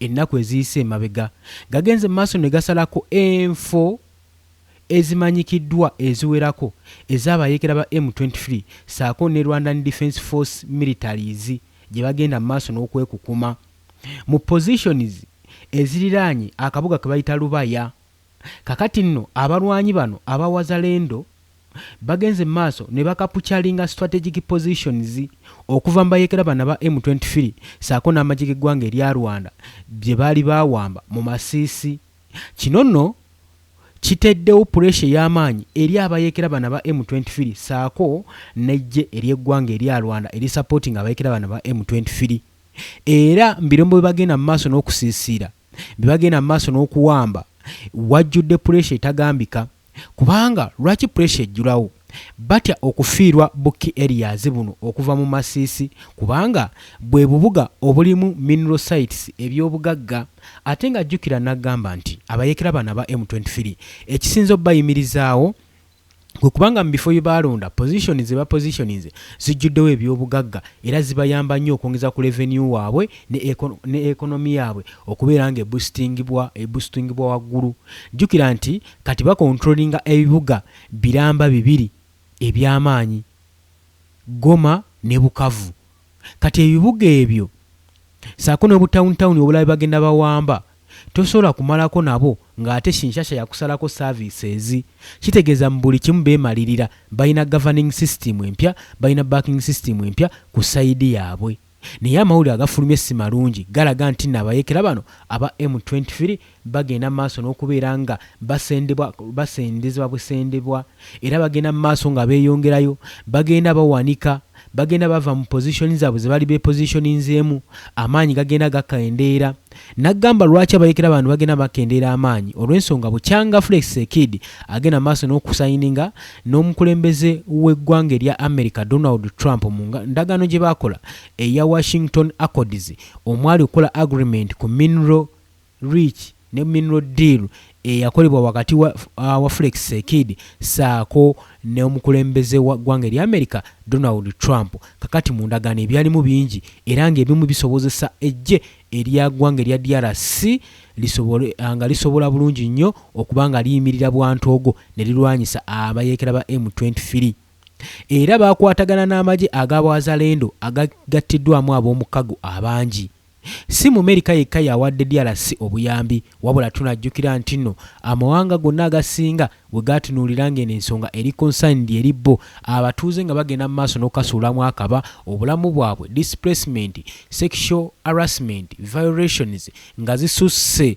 Ennaku eziyise emabega, gagenze mu maaso ne gasalako enfo ezimanyikiddwa eziwerako ez'abayeekera ba M twenty three ssaako ne Rwandan Defence Force militaries gye bagenda mu maaso n'okwekukuma mu positions eziriraanye akabuga ke bayita Rubaya Kakati nno abalwanyi bano aba Wazalendo bagenze mu maaso ne bakapucalinga strategic positions okuva mu bayekera bano aba M twenty three saako n'amagye g'eggwanga erya Rwanda bye baali baawamba mu Masisi. Kino nno kiteddewo puleesha ey'amaanyi eri abayekera bano aba M twenty three saako n'eggye ery'eggwanga erya Rwanda erisapootinga abayekera bano aba M twenty three era mu birombo bwe bagenda mu maaso n'okusiisiira. bye bagenda mu maaso n'okuwamba wajjudde puleesa etagambika kubanga lwaki puleesa ejjulawo batya okufiirwa Bukki Erias buno okuva mu Masisi kubanga bwe bubuga obulimu mineral sites eby'obugagga ate nga jjukira n'agamba nti abayeekera bano aba M23 ekisinze obayimirizaawo kwe kubanga mu bifo bye baalonda pozisoni ze bapozishoninze zijjuddewo ebyobugagga era zibayamba nnyo okwongeza ku leveniyu waabwe ne ekonomi yaabwe okubeera nga ebustingibwa waggulu. Jjukira nti kati bakontulolinga ebibuga biramba bibiri eby'amaanyi, Goma ne Bukavu. Kati ebibuga ebyo ssaako n'obutawunitawuni obulala bye bagenda bawamba Tosobola kumalako nabo nga ate shinshasha yakusalako services. Kitegeeza mu buli kimu bemalirira. Balina governing system empya, balina backing system empya ku side yabwe. Naye amawulire agafulumye simalungi galaga ntino abayekera bano aba M twenty three bagenda maaso nokubeera nga basendebwa basendezebwa busendebwa. Era bagenda mu maaso nga beeyongerayo, bagenda bawanika, bagenda bava mu position zaabwe ze baali beepositioninzeemu, amaanyi gagenda gakendeera. Naggamba lwaki abayeekera bano bagenda bakendeera amaanyi, olw'ensonga bukyanga Flex Sekid agenda mu maaso n'okusayininga n'omukulembeze w'eggwanga erya America Donald Trump mu ndagaano gye baakola eya Washington Accords omwali okukola agreement ku mineral Reach ne Mineral Deal eyakolebwa wakati wa wa Flex Sekid saako n'omukulembeze wa ggwanga erya America Donald Trump kakati mu ndagaano ebyalimu bingi era nga ebimu bisobozesa eggye erya ggwanga erya DRC lisobole nga lisobola bulungi nnyo okuba nga liyimirira bwantoogo ne lirwanyisa abayeekera ba M twenty three era baakwatagana n'amagye aga Bwazalendo agagattiddwamu ab'omukago abangi. Si mu Amerika yekka y'awadde DRC obuyambi wabula tunajjukira ntinno amawanga gonna agasinga we gaatunuulira ng'eno ensonga eri concerned eri bo, abatuuze nga bagenda mu maaso n'okukasuulamu akaba, obulamu bwabwe, displacement, sexual harassment violations nga zisusse.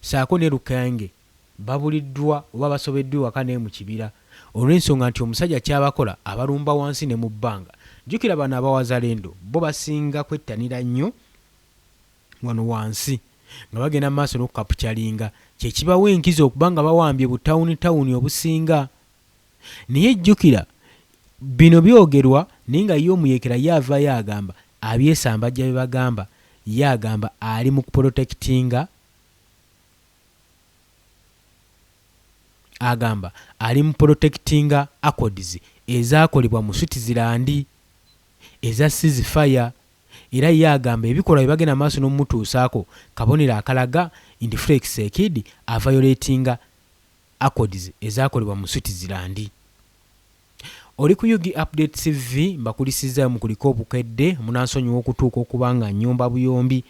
saako ne Lukenge babuliddwa oba basobeddwa ewaka naye mu kibira olwensonga nti omusajja kyabakola abalumba wansi ne mu bbanga. Jjukira bano aba Wazalendo bo basinga kwettanira nnyo wano wansi nga bagenda mu maaso n'okukapucalinga kye kibawa enkizo okuba nga bawambye bu tawuni tawuni obusinga naye jjukira bino byogerwa naye nga ye omuyeekera ye avaayo agamba abyesambajja bye bagamba ye agamba ali mu kupolotekitinga agamba ali mu polotekitinga Accords ezaakolebwa mu Switzerland eza Cease Fire era ye agamba ebikolwa bye bagenda mu maaso n'okumutuusaako kabonero akalaga nti Flex Seekid avayoleetinga Accords ezaakolebwa mu Switzerland. Oli ku Ug Update TV, mbakulisizaayo mukulike obukedde, munansonyiwa okutuuka okuba nga nyomba buyombi.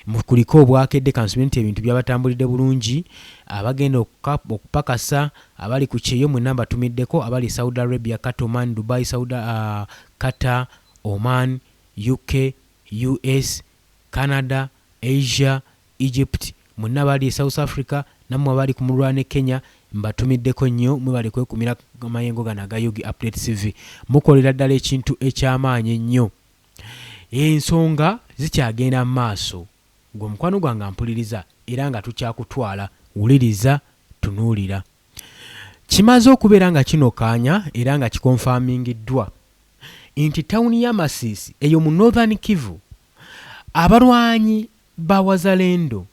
Mukulike obwakedde kansubire nti ebintu byabatambulidde bulungi, abagenda okupakasa, abali ku kyeyo mwenna mbatumiddeko, abali e Saudi Arabia, Qatar, Oman, Dubai, Saudi, uh, Qatar, Oman, UK, US, Canada, Asia, Egypt, mwenna abali e South Africa, nammwe abali ku mululwa ne Kenya mbatumiddeko nnyo mwebale kwekumira amayengo gano aga Ug Update TV. Mukolera ddala ekintu ekyamaanyi ennyo. Ensonga zikyagenda mu maaso. Gwe mukwano gwange ampuliriza era nga tukyakutwala. Wuliriza, tunuulira. Kimaze okubeera nga kinokaanya era nga kikonfamingiddwa nti tawuni y'e Masisi eyo mu Northern Kivu abalwanyi Ba Wazalendo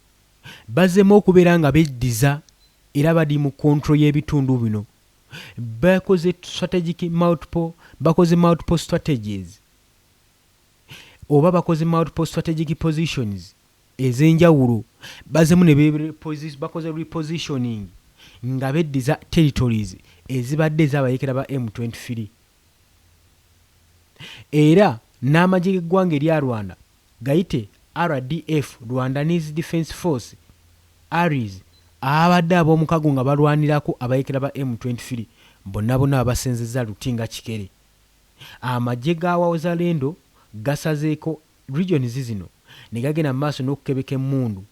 bazemu okubera nga beddiza era bali mu control yebitundu bino. Bakoze strategic multiple bakoze multiple strategies oba bakoze multiple strategic positions ezenjawulo bazemu ne bakoze repositioning nga beddiza territories ezibadde ezabayekera ba M twenty three. era n'amagye g'eggwanga erya Rwanda gayite RDF, Rwandaniz Defence Force, aris, ababadde ab'omukago nga balwanirako abayeekera ba M twenty three bonna bonna babasenzezza luti nga kikere. Amagye ga Wawzalendo gasazeeko regions zino ne gagenda mu maaso n'okukebeka emmundu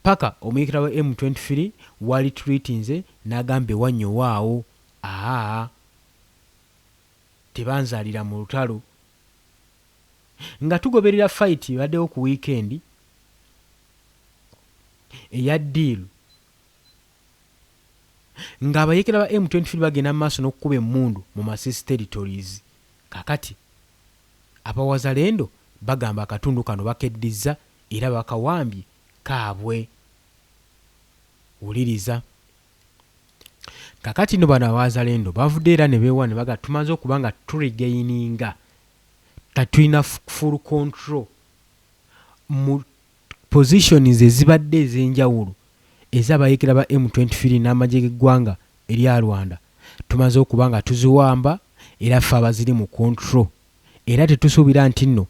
ppaka omuyeekera wa M twenty three w'alituluitinze n'agamba ewa nnyowaawo. Aah! tebanzalira mu lutalo nga tugoberera fight ebaddewo ku weekend eya deal nga abayekera ba M23 bagenda mu maaso n'okukuba emmundu mu Masisi territories kakati abawazalendo bagamba akatundu kano bakeddizza era bakawambye kaabwe. Wuliriza. kakati no bano abazalendo bavude era nebewa nebaga tumaze okuba nga turigaininga katulina full control mu positions ezibadde ezenjawulo ezabayekera ba M23 n'amagye g'eggwanga erya Rwanda tumaze okuba nga tuziwamba era ffe abaziri mu control era tetusuubira nti nno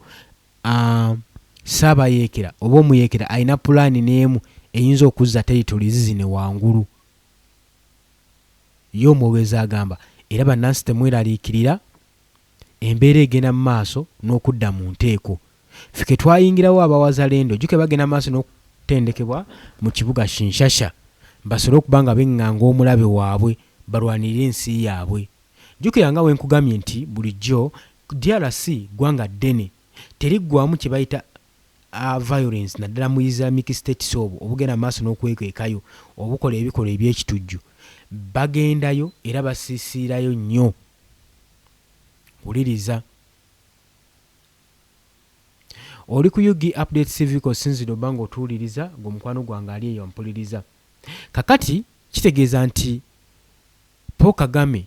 Ssaabayeekera oba omuyeekera alina pulaani n'emu eyinza okuzza teritolizi zino wangulu, ye omwogezi agamba. Era bannansi temweraliikirira, embeera egenda mu maaso n'okudda mu nteeko. Ffe ke twayingirawo aba Wazalendo, ojjukira bagenda mu maaso n'okutendekebwa mu kibuga Shinshasha basobole okuba nga beng'anga omulabe waabwe balwanirire ensi yaabwe. Jjukira nga bwe nkugambye nti bulijjo DRC ggwanga ddene, teriggwaamu kye bayita a violence naddala mu Islamic States obwo obugenda mu maaso n'okwekwekayo, obukola ebikolwa eby'ekitujju bagendayo era basiisiirayo nnyo. Wuliriza. Oli ku UG Updates TV kosinzidde oba nga otuwuliriza, gwe mukwano gwange ali eyo ampuliriza. Kakati kitegeeza nti Paul Kagame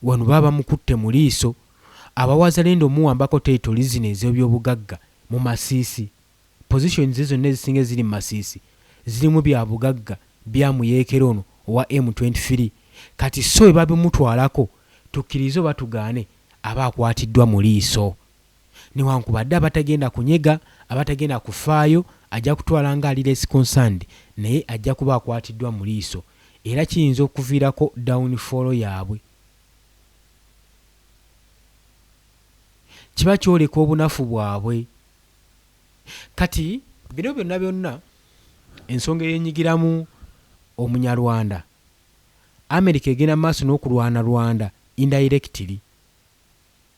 wano baba bamukutte mu liiso, aba Wazalendo omuwambako territories zino ez'ebyobugagga mu Masisi, positions ze zonna ezisinga eziri mu Masisi zirimu bya bugagga bya muyeekera ono owa M twenty three, kati so bwe babimutwalako tukkirize oba tugaane aba akwatiddwa mu liiso. newankubadde abatagenda kunyega, abatagenda kufaayo, ajja kutwala nga ali less concerned naye ajja kuba akwatiddwa mu liiso era kiyinza okuviirako down fall yaabwe. Kiba kyoleka obunafu bwabwe. Kati bino byonna byonna ensonga eyenyigiramu omunyarwanda, America egenda mu maaso n'okulwana Rwanda indirectly.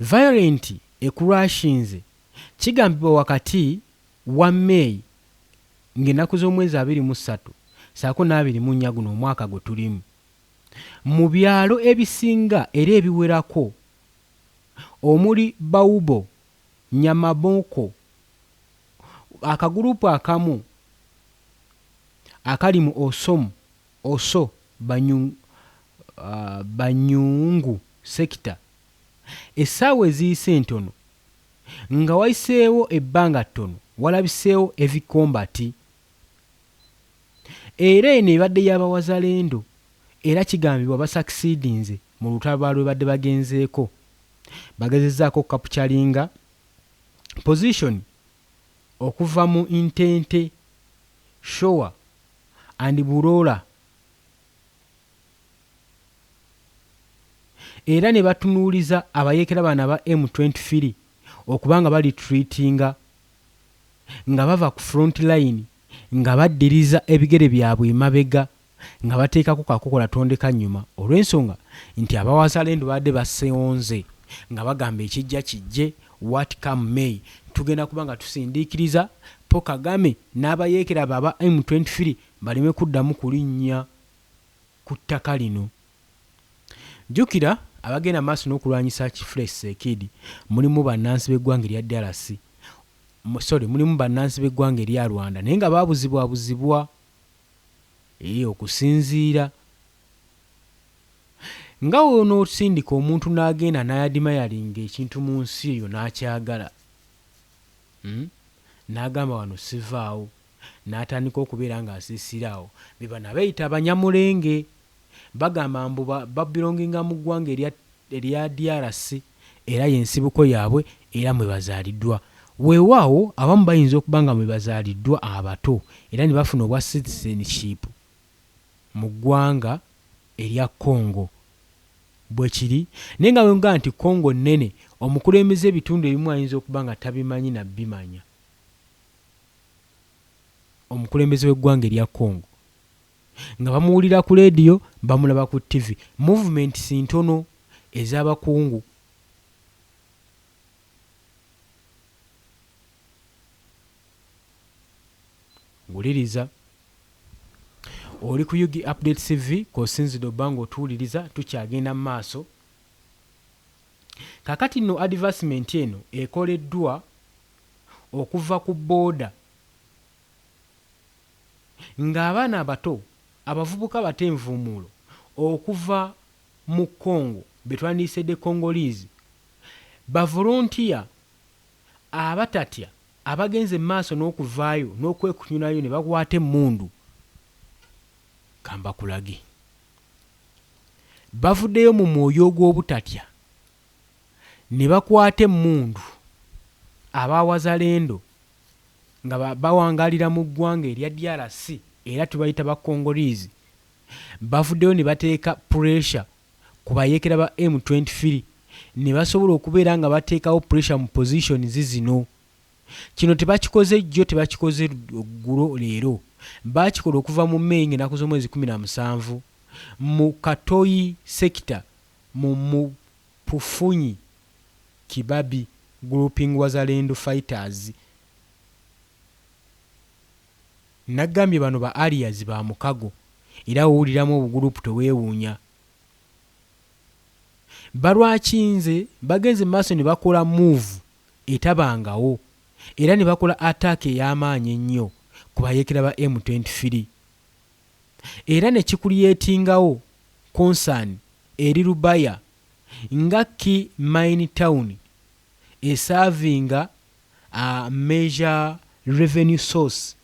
Violent ekulwashinze kigambibwa wakati wa May ng'ennaku z'omwezi abiri mu ssatu ssaako n'abiri mu nnya guno omwaka gwe tulimu mu byalo ebisinga era ebiwerako omuli Baubo, Nyamaboko, akagulupu akamu akali mu Osomu, Also banyu banyungu sector essaawa eziyise ntono nga wayiseewo ebbanga ttono walabiseewo heavy combat era eno ebadde ya bawazalendo era kigambibwa basakisidinze mu lutalo balwebadde bagenzeeko bagezezaako okukapukyalinga position okuva mu Intente, Shoa and Burora era ne batunuuliza abayeekera bano aba M twenty three okuba nga balitreatinga nga bava ku front line nga baddiriza ebigere byabwe emabega nga bateekako kakokola tondekanyuma olw'ensonga nti aba Wazalendo babadde basonze nga bagamba ekijja kijje what come may tugenda kuba nga tusindiikiriza Paul Kagame n'abayeekera be aba M twenty three baleme kuddamu kulinnya ku ttaka lino. Jjukira abagenda mu maaso n'okulwanyisa Kifulesi Sekiidi mulimu bannansi b'eggwanga erya DRC sorry mulimu bannansi b'eggwanga erya Rwanda naye nga baabuzibwabuzibwa. Eeh okusinziira nga w'onoosindika omuntu n'agenda n'ayadimayalinga ekintu mu nsi eyo n'akyagala, uhm, n'agamba wano sivaawo, n'atandika okubeera ng'asiisira awo, be bano abeeyita abanyamulenge. Bagamba mbu ba babelonginga mu ggwanga erya erya DRC era y'ensibuko yaabwe era mwe bazaaliddwa. Weewaawo abamu bayinza okuba nga mwe bazaaliddwa abato era ne bafuna obwa citizenship mu ggwanga erya Congo. Bwe kiri. Naye nga bwengamba nti Congo nnene, omukulembeze ebitundu ebimu ayinza okuba nga tabimanyi na bimanya. Omukulembeze w'eggwanga erya Congo. Nga bamuwulira ku leediyo, bamulaba ku ttivi. Movementsi ntono ez'abakungu. Wuliriza. Oli ku Ug Update TV k'osinzidde obba ng'otuwuliriza, tukyagenda mu maaso. Kaakati nno adivasimenti eno ekoleddwa okuva ku booda. ng'abaana abato, abavubuka abata envuumuulo okuva mu Congo be twandiyise the Congolese, bavolontiya abatatya abagenze mu maaso n'okuvaayo n'okwekunyulayo ne bakwata emmundu. Ka mbakulage. Bavuddeyo mu mwoyo ogw'obutatya ne bakwata emmundu aba Wazalendo. nga bawangaalira mu ggwanga erya DRC era tubayita ba Congolese bavuddeyo ne bateeka puleesha ku bayeekera ba M twenty three ne basobola okubeera nga bateekawo puleesha mu positions zino. Kino tebakikoze jjo, tebakikoze ggulo, leero. Baakikola okuva mu May ng'ennaku z'omwezi kkumi na musanvu mu Katoyi sector mu mu Pufunyi Kibabi Grouping Wazalendo Fighters Nagambye bano ba Arias ba mukago era wowuliramu obu group tewewuunya balwakinze bagenze mu maaso nebakola move etabangawo era nebakola attack eyamaanyi ennyo ku bayekera ba M twenty three era ne kikuliyetingawo concern eri Lubaya nga key mine town esaavinga a major revenue source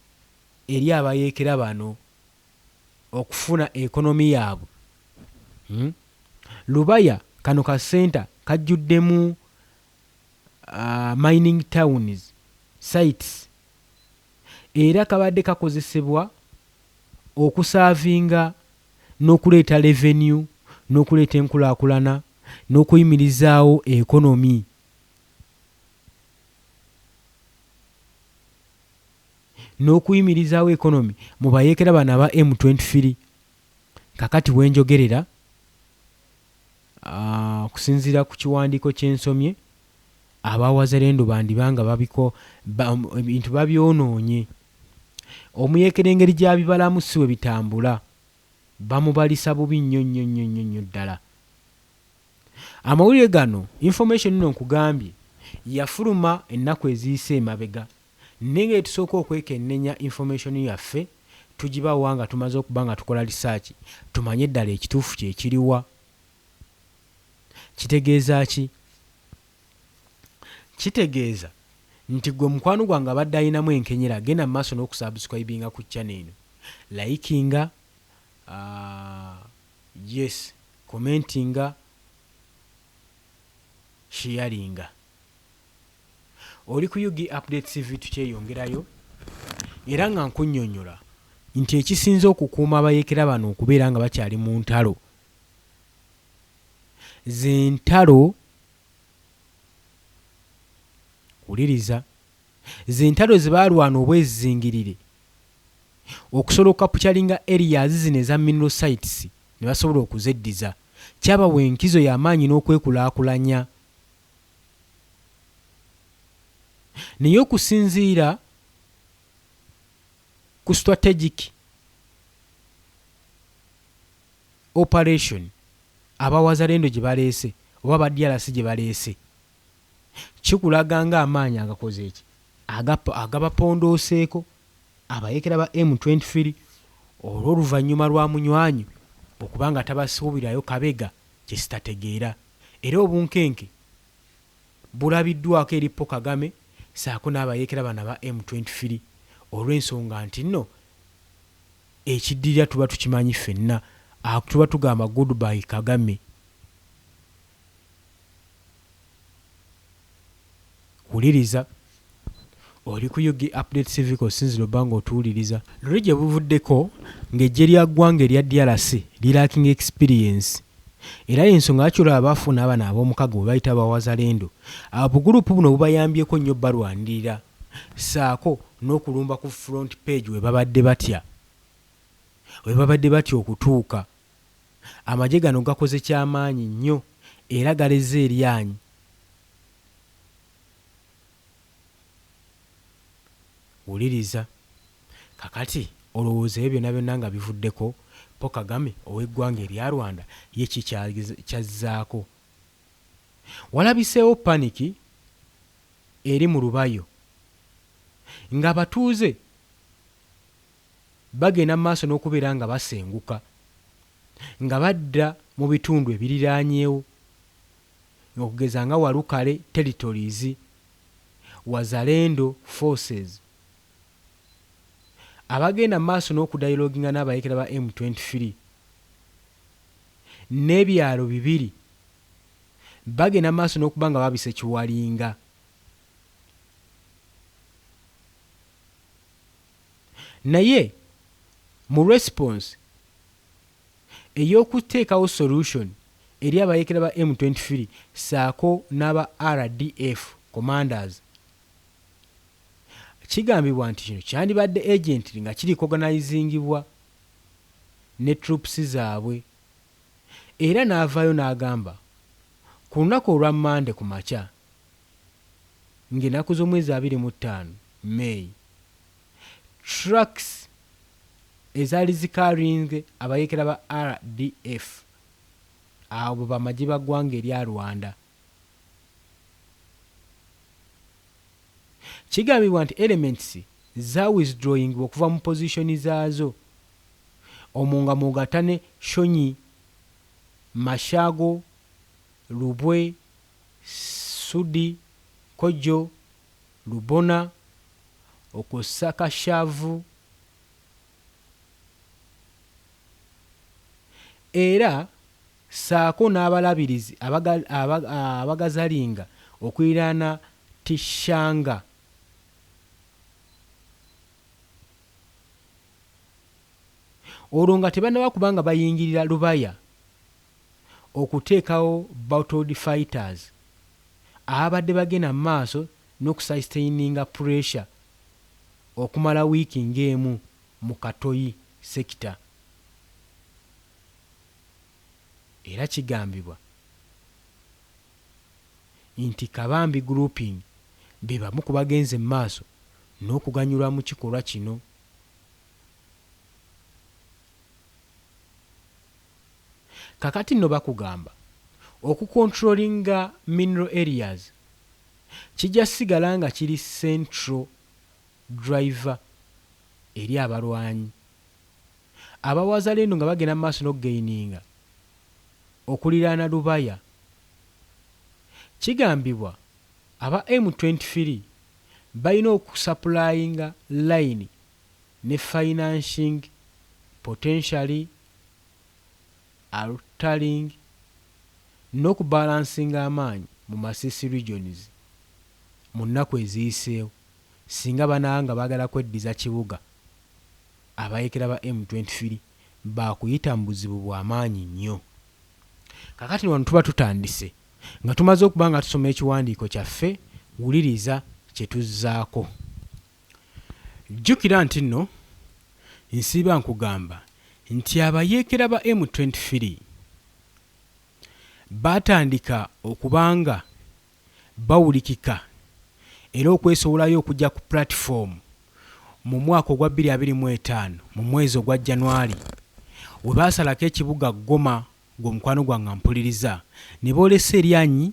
eri abayeekera bano okufuna economy yaabwe. Lubaya kano ka centre kajjuddemu mining towns sites era kabadde kakozesebwa okusaavinga. n'okuleeta leveniyu, n'okuleeta enkulaakulana, n'okuyimirizaawo ekonomi. N'okuyimirizaawo ekonomi mu bayeekera bano aba M twenty three kakati wenjogerera. Okusinziira ku kiwandiiko kye nsomye, aba Wazalendo bandiba nga ebintu babyonoonye. Omuyeekera engeri gy'abibalamu si bwe bitambula. Bamubalisa bubi nnyo nnyo nnyo nnyo nnyo ddala. Amawulire gano, information eno nkugambye, yafuluma ennaku eziyise emabega. Nengeri tusooka okwekennenya information yaffe tugibawa nga tumaze okuba nga tukola research tumanye ddala ekituufu kyekiriwa? Kitegeeza ki? Kitegeeza nti gwe mukwano gwange abadde ayinamu enkenyera genda mu maaso n'oku subscribinga ku channel eno, likinga, yes commentinga, sharinga. Oli ku Ug Update TV tukyeyongerayo era nga nkunnyonnyola nti ekisinze okukuuma abayeekera bano okubeera nga bakyali mu ntalo z'entalo wuliriza z'entalo ze baalwana obwezizingirire okusobola okukapukyalinga areas zino eza mineral sites ne basobola okuzeddiza kyabawa enkizo y'amaanyi n'okwekulaakulanya Naye okusinziira ku strategic operation aba Wazalendo gye baleese oba aba DRC gye baleese, kikulaga ng'amaanyi agakoze ki? Agabapondooseeko abayeekera ba M twenty three olw'oluvannyuma lwa Munywanyu okuba nga tabasuubirayo kabega kye sitategeera. Era obunkenke bulabiddwako eri Paul Kagame saako n'abayeekera bano aba M twenty three olw'ensonga nti nno ekiddirira tuba tukimanyi ffenna ak tuba tugamba good bye Kagame. Wuliriza. Oli ku ug Update TV k'osinzira obba ng'otuwuliriza. Luli gye buvuddeko ng'eggye lya ggwanga erya DRC lilacking experience era y'ensonga lwaki olaba baafuna abano ab'omukago be bayita ba Wazalendo. Obuguluupu buno bubayambyeko nnyo obbalwanirira ssaako n'okulumba ku front page we babadde batya we babadde batya okutuuka. Amagye gano gakoze kyamaanyi nnyo era galezze eryanyi Wuliriza kakati olowooza ebyo byonna byonna nga bivuddeko Paul Kagame ow'eggwanga erya Rwanda ye ki kyazzaako? Walabiseewo paniki eri mu Rubayo ng'abatuuze bagenda mu maaso n'okubeera nga basenguka nga badda mu bitundu ebiriraanyewo okugeza nga Walukale Territories, Wazalendo Forces, abagenda mu maaso n'okudayilooginga n'abayeekera ba M twenty three ne byalo bibiri bagenda mu maaso n'okuba nga babise Kiwalinga. Naye mu response ey'okuteekawo solution eri abayeekera ba M twenty three ssaako n'aba RDF commanders, kigambibwa nti kino kyandibadde agently nga kirikoganayizingibwa ne troops zaabwe era n'avaayo n'agamba ku lunaku olwa Mmande ku makya, ng'enaku z'omwezi abiri mu ttaano, May, trucks ezaali zi carrying abayeekera ba RDF abo bamagye ba ggwanga erya Rwanda. Kigambibwa nti elements za withdrawing okuva mu position zaazo omwo nga mw'ogatta ne Shonyi, Mashago, Lubwe, Sudi, Kojo, Lubona okwo ssa Kashavu era ssaako n'abalabirizi abagazalinga okuliraana Tishanga. Olwo nga tebannaba kuba nga bayingirira Lubaya okuteekawo bottled fighters ababadde bagenda mu maaso n'okusaistayininga pressure okumala wiiki ng'emu mu Katoyi sector era kigambibwa nti Kabambi Grouping be bamu ku bagenze mu maaso n'okuganyulwa mu kikolwa kino. Kakati no bakugamba oku controllinga mineral areas kija sigala nga kiri central driver eri abalwanyi aba wazalendo nga bagenda mumaaso nokugaininga okuliraana Lubaya. Kigambibwa aba M twenty three balina oku supplyinga line ne financing potentially altering noku balansinga amaanyi mu Masisi regions mu nnaku eziyiseewo singa banaba nga bagala kweddiza kibuga abayekera ba M twenty three baakuyita mu buzibu bwa maanyi nnyo. Kakati wano tuba tutandise nga tumaze okuba nga tusoma ekiwandiiko kyaffe, wuliriza kye tuzzaako. Jjukira nti nno nsiiba nkugamba nti abayeekera ba M twenty three baatandika okuba nga bawulikika era okwesowolayo okujja ku pulatifoomu mu mwaka ogwa bbiri abiri mu etaano mu mwezi ogwa Janwali we baasalako ekibuga Goma ng'omukwano gwange ampuliriza ne boolesa eryanyi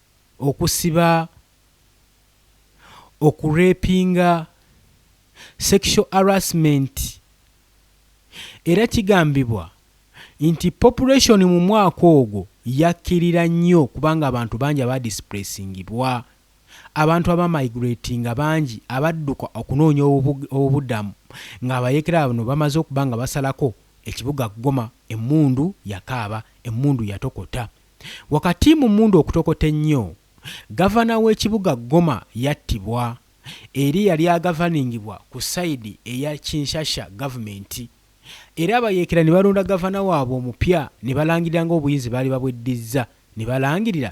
okusiba, okurepinga, sexual harassment era kigambibwa nti population mu mwaka ogwo yakkirira nnyo kubanga abantu bangi abaadisipuleesingibwa, abantu abaamayigireetinga bangi abadduka okunoonya obubudamu ng'abayeekera bano bamaze okuba nga basalako ekibuga Goma, emmundu yakaaba, emmundu yatokota. Wakati mu mmundu okutokota ennyo, Gavana w'ekibuga Goma yattibwa, era eyali agavaningibwa ku sayidi eya Kinshasha government, era abayeekera ne balonda Gavana waabwe omupya ne balangirira ng'obuyinzi baali babweddizza ne balangirira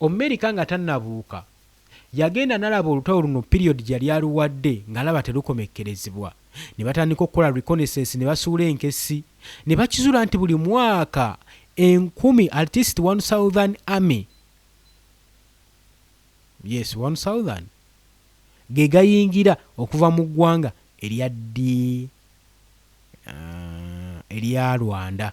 Omumerika nga tannabuuka, yagenda n'alaba olutalo luno piriyodi gye yali aluwadde ng'alaba terukomekkerezebwa. Ne batandika okukola reconnaissance ne basuula enkessi. Ne bakizuula nti buli mwaka enkumi, at least one southern army, yes one southern, ge gayingira okuva mu ggwanga erya ddi? erya Rwanda.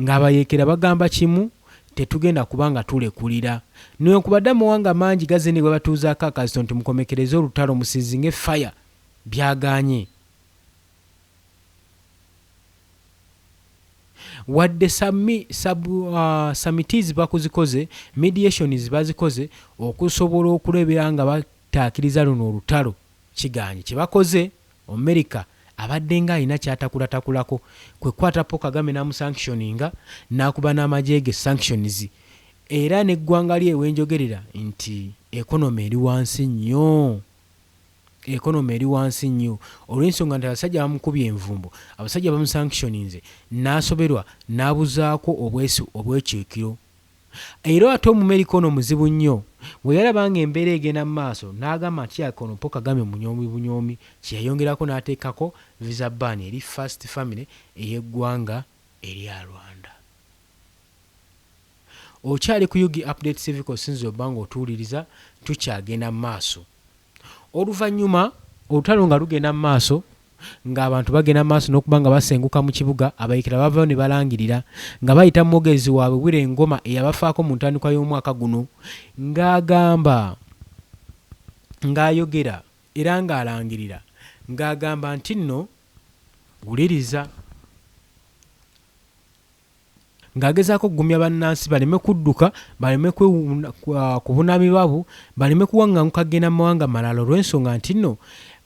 Ng'abayeekera bagamba kimu, Tetugenda kuba nga tulekulira. Newankubadde amawanga mangi gazze ne bwe batuuzaako akazito nti mukomekereze olutalo, musiizinge faya, byagaanye. Wadde sami, sub, samitizi bakuzikoze, mediations bazikoze okusobola okulebera nga bataakiriza luno olutalo, kigaanye. Kye bakoze. Omerika abaddenga alina kyatakulatakulaako kwe kukwata Paul Kagame n'amusanctioninga n'akuba n'amagye ge sanctions era n'eggwanga lye wenjogerera nti economy eri wansi nnyo economy eri wansi nnyo olw'ensonga nti abasajja bamukubye envumbo, abasajja bamusanctioninze n'asoberwa n'abuzaako obwesi obw'ekyekiro Era ate Omumerika ono muzibu nnyo, bwe yalaba ng'embeera egenda mu maaso n'agamba nti yaka ono Paul Kagame munyoomi bunyoomi kye yayongerako n'ateekako Visa Ban eri First Family ey'eggwanga erya Rwanda. Okyali ku Ug Update TV k'osinze obba ng'otuwuliriza, tukyagenda mu maaso. Oluvannyuma olutalo nga lugenda mu maaso, ng'abantu bagenda mu maaso n'okuba nga basenguka mu kibuga, Abayeekera baavaayo ne balangirira nga bayita mu mwogezi waabwe Willy Ngoma eyabafaako mu ntandikwa y'omwaka guno ng'agamba ng'ayogera era ng'alangirira ng'agamba ntinno, Wuliriza! ng'agezaako okugumya bannansi baleme kudduka, baleme kwewuuna kubunaamibwa bwo, baleme kuwang'anguka kugenda mu mawanga malala olw'ensonga nti nno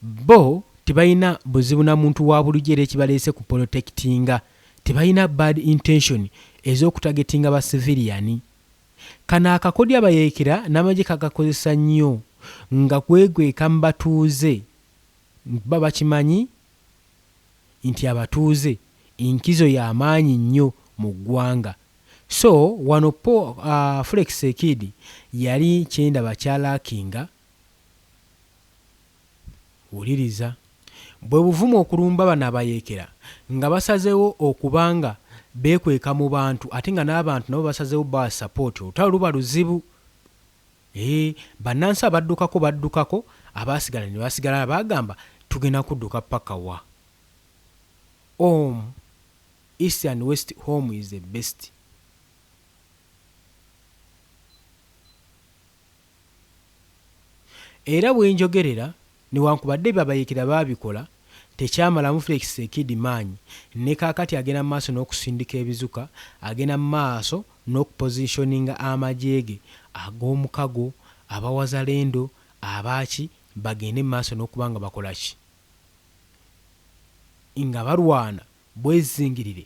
bbo tebalina buzibu na muntu wa bulijjo era ekibaleese ku polotekitinga tebalina bad intention ez'okutagetinga ba siviliyani. Kano akakodyo abayeekera n'amagye kakakozesa nnyo nga kwegweeka mu batuuze kuba bakimanyi nti abatuuze enkizo ya maanyi nnyo mu ggwanga so wano Forex Kid yali kyendaba kya lackinga wuliriza bwe buvumu okulumba bano abayeekera nga basazeewo okuba nga beekweka mu bantu ate nga n'abantu nabo basazeewo bawa support olutalo luba luzibu. Eeh banansi abaddukako baddukako abaasigala nebasigala baagamba tugenda kudduka paka wa? Om east and west home is the best. Era bwenjogerera Newankubadde byebabayeekera baabikola, tekyamalamu Felix Tsekidi maanyi, ne kaakati agenda mu maaso n'okusindika ebizuka, agenda mu maaso n'okupositioninga amagye ge ag'omukago, aba Wazalendo, aba ki, bagende mu maaso n'okuba nga bakola ki? nga balwana. bwezingirire.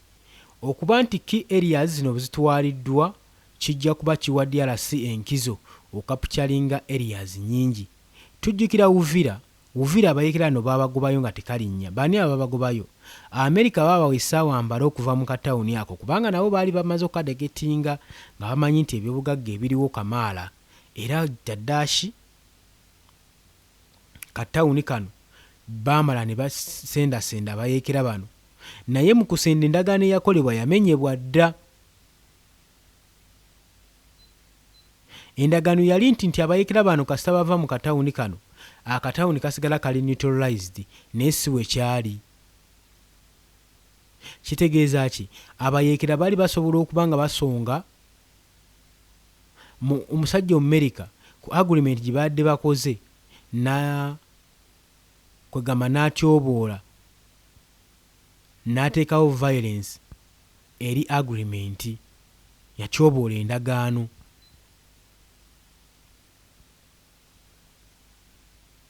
Okuba nti key areas zino bwzitwaliddwa kijja kuba kiwa DRC enkizo okapcalinga areas nyingi. Tujjukira Uvira, Uvira abayekera no baabagobayo nga tekalinnya. Baani ababagobayo? America baabawa essaawa mbale okuva mu katawuni ako kubanga nabo baali bamaze okukadeketinga nga bamanyi nti ebyobugagga ebiriwo kamaala era kyaddaaki. ka tawuni kano baamala ne basendasenda abayeekera bano naye mu kusenda endagaano eyakolebwa yamenyebwa dda. Endagaano yali nti nti abayeekera bano kasita bava mu ka tawuni kano, akatawuni kasigala kali neutralized naye si bwe kyali. Kitegeeza ki? Abayeekera baali basobola okuba nga basonga. mu omusajja omumerika ku agreement gyebaadde bakoze na kwegamba natyoboola nateekawo violence eri agreement yatyoboola endagaano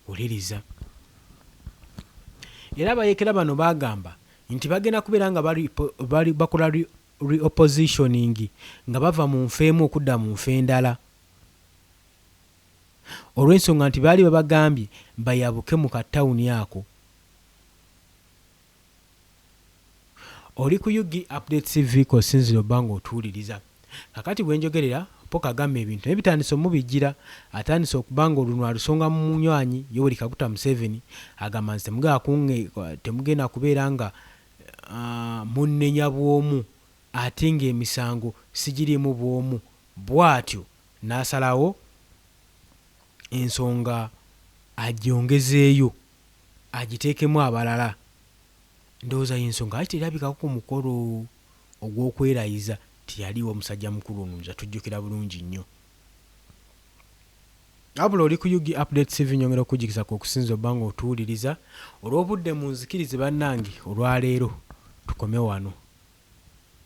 wuliriza era abayekera bano bagamba nti bagenda kubeera nga bakola reoppositioning nga bava mu nfa emu okudda mu nfa endala olw'ensonga nti baali babagambye bayabuke mu ka town ako. Oli ku Ug Updates TV kosinzira obba nga otuwuliriza. Kakati bwenjogerera Paul Kagame ebintu naye bitandise omubijjira, atandise okuba nga olunwe alusonga mu munywanyi Yoweri Kaguta Museveni agamba nti temugenda kubeera nga munnenya bw'omu ate ng'emisango sigiriimu bw'omu bw'atyo n'asalawo ensonga agyongezeeyo agiteekemu abalala. Ndowooza y'ensonga lwaki terabikako ku mukolo ogw'okwerayiza. Teyaliiwo musajja mukulu ono nze atujjukira bulungi nnyo. Wabula oli ku ug update TV nyongera okujjukiza kwokusinze obba nga otuwuliriza olwobudde munzikirize banange olwaleero tukome wano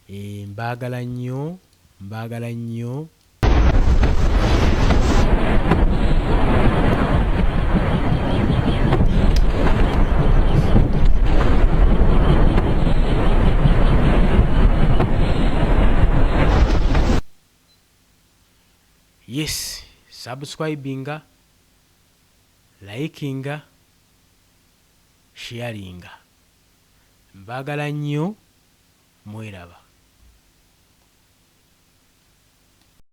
eeh mbagala nnyo mbagala nnyo Yes subscribinga, likinga, sharinga mbagala nyo mweraba.